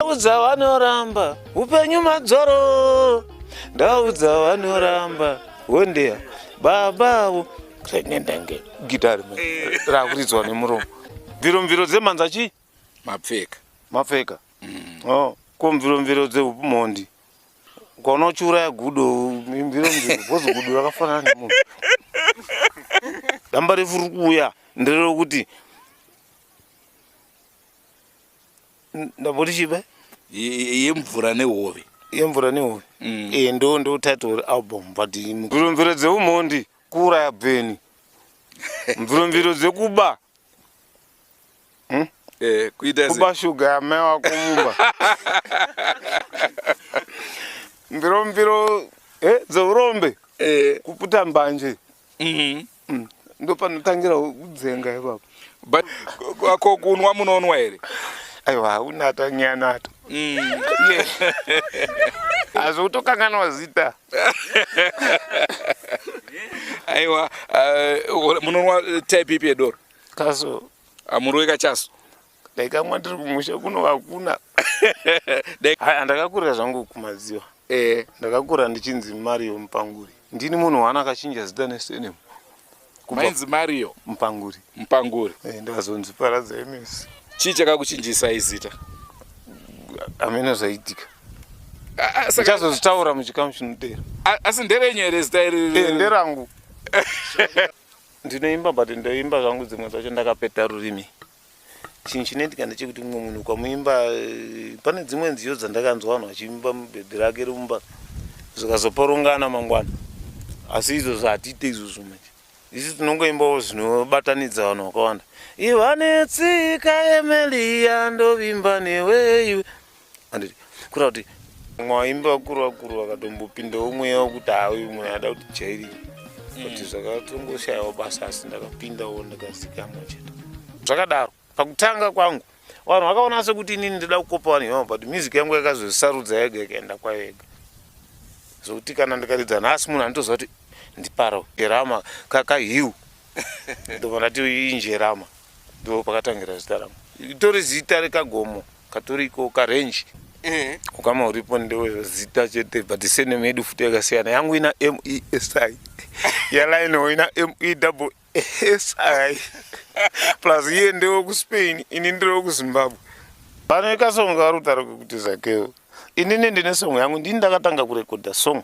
ndaudza vanoramba upenyu madzoro ndaudza vanoramba hondeya baba avo renendange gitari eh. rakuridzwa nemuromo mviro mviro dzemhanza chii mapfeka mapfeka mm. oh, ko mviro mviro dzeupumhondi ukaona uchiuraya gudo mviro mviro bhozi gudo rakafanana nemunhu damba refu rikuuya ndererokuti ndamboti chibe yemvura nehove yemvura nehove mm. e eh, ndo ndo title album but mvuromviro dzeumhondi kuuraya bveni mvuromviro dzekuba hmm? eh, kuba shuga yamai wako mumba mviromviro eh, dzeurombe kuputa mbanje mm-hmm. Mm. Ndopanotangira kudzenga ipapo. But ko kunwa munonwa here? Aiwa unata nyanata. Mm. Azvo utokanganwa zita. Aiwa uh, munonwa type ipi yedoro? Kaso. Amuroi kachaso? dai kamwa ndiri kumusha kuno hakuna andakakurira zvangu kumadziwa eh. ndakakura ndichinzi mario mupanguri ndini munhu waana akachinja zita nesenemu mainzi mario mupanguri mupanguri eh, ndazonzi paradza imes chii chakakuchinjisa izita amene zvaitika ichazozvitaura muchikamu chinotera asi nderenyu here zita iri eh, nderangu ndinoimba but ndoimba zvangu dzimwe dzacho ndakapeta rurimi chinhu chinoitika ndechekuti mumwe munhu ukamuimba eh, pane dzimwe nziyo dzandakanzwa vanhu vachiimba mubhebhi rake rumba zvikazoporongana mangwana asi izvozvo hatiite izvozvo manje isu tinongoimbawo zvinobatanidza vanhu vakawanda ivanetsika emeliya ndovimba neweyu anditi kura kuti mwaimba vakuru vakuru vakatombopindawo mweya wekuti hauyu mweya ada kuti jairi kuti mm. zvakatongoshayawo basa asi ndakapindawo ndakazikamwa chete zvakadaro pakutanga kwangu vanhu vakaona sekuti inini ndoda kukopa vanhu ivavo but music yangu yakazozisarudza yega ikaenda kwayo yega zvokuti kana ndikaridza nhasi munhu anotoziva kuti ndipara jerama kakahiu ndobva ndati injerama ndo pakatangira zita rangu itori zita rekagomo katoriko ka range eh. ukama uripo ndewe zita chete but sene medu futi yakasiyana yangu ina MESI yalaino ina ME double SI plus iye ndewe ku Spain ini ndewe ku Zimbabwe pane kasongo karutaro kekuti zakeo inini ndine song yangu ndini ndakatanga kurekodha song